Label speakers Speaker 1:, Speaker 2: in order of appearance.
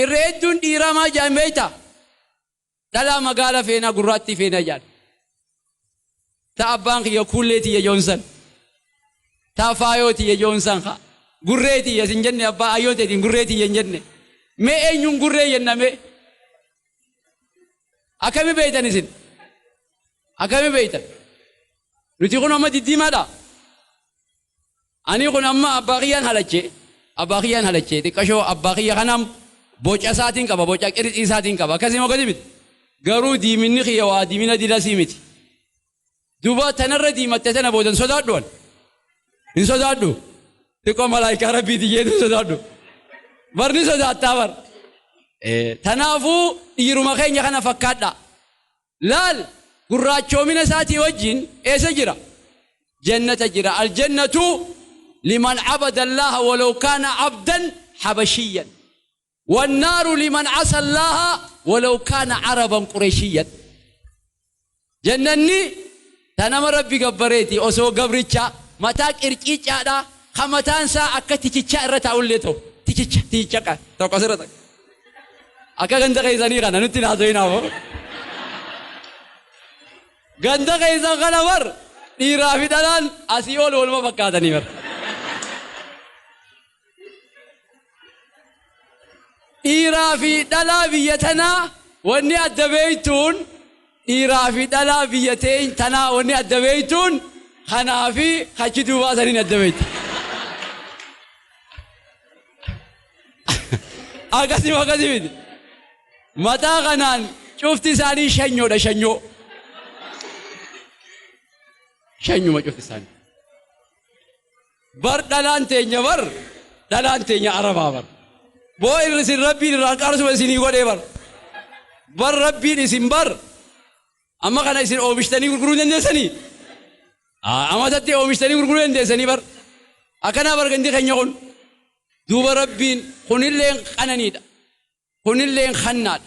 Speaker 1: Irra hedduun dhiiraa maal jedhan beektaa? Dhalaa magaala feenaa gurraattii feenaa jedhan. Ta abbaan kiyya kuullee tiyya joon san. Ta faayoo tiyya joon san ka. Gurree tiyya sin jenne abbaa ayyoo teetiin gurree tiyya hin jenne. Mee eenyuun gurree jenna mee? Akkami beeytan isin? Akkami beeytan? Nuti kun amma diddiimaadha. Anii kun amma abbaa kiyyaan halache abbaa kiyyaan halache xiqqashoo abbaa kiyya kanaan boca isaatiin qaba boca qirixii isaatiin qaba akkasii moo gadi miti garuu diiminni kiyya waa diimina dilasii miti duba tanarra diimatte tana booda hin sodaadhu an hin sodaadhu xiqqoo malaayikaa rabbiiti jeetu hin sodaadhu bar ni sodaattaa bar Eh, tanaafuu dhiiruma keenya kana fakkaadha Laal! Gurraachoomina isaatii wajjin eessa jira? Jannata jira. Al-jannatu liman abada Allaaha walaw kaana abdan habashiyyan. Wannaaru liman asa Allaaha walaw kaana araban qureshiyyan. Jannanni Ta nama Rabbi gabbareeti, osoo gabricha, mataa qirciicaadhaa, ka mataan isaa akka tichichaa irra taa'ullee ta'u. Tichicha, tichicha ka, tokko as irra takka. Akka ganda keessanii kana, nutti hin haasawinaa moo. Ganda keessan kana bar, dhiiraa fi dhalaan asii ol waluma fakkaatanii bar. Dhiiraa fi dhalaa biyya tanaa wanni adda beeytuun dhiiraa fi dhalaa biyya teeny tanaa wanni adda beeytuun kanaa fi kachi duubaa saniin adda beeyta. Akkasii akkasii miti. Mataa kanaan cufti isaanii shanyoodha shanyoo. Shanyuma cufti isaanii. bar dhalaan teenya bar dhalaan teenya arabaa bar boo irra isin rabbiin irraa qaarsuma isinii godhee bar bar rabbiin isin bar amma kana isin oomishtanii gurguruu dandeessanii Aa, amatatti oomishtanii gurguruu dandeessanii bar akkanaa bar gandi keenya kun duuba rabbiin kunilleen qananiidha kunilleen hannaadha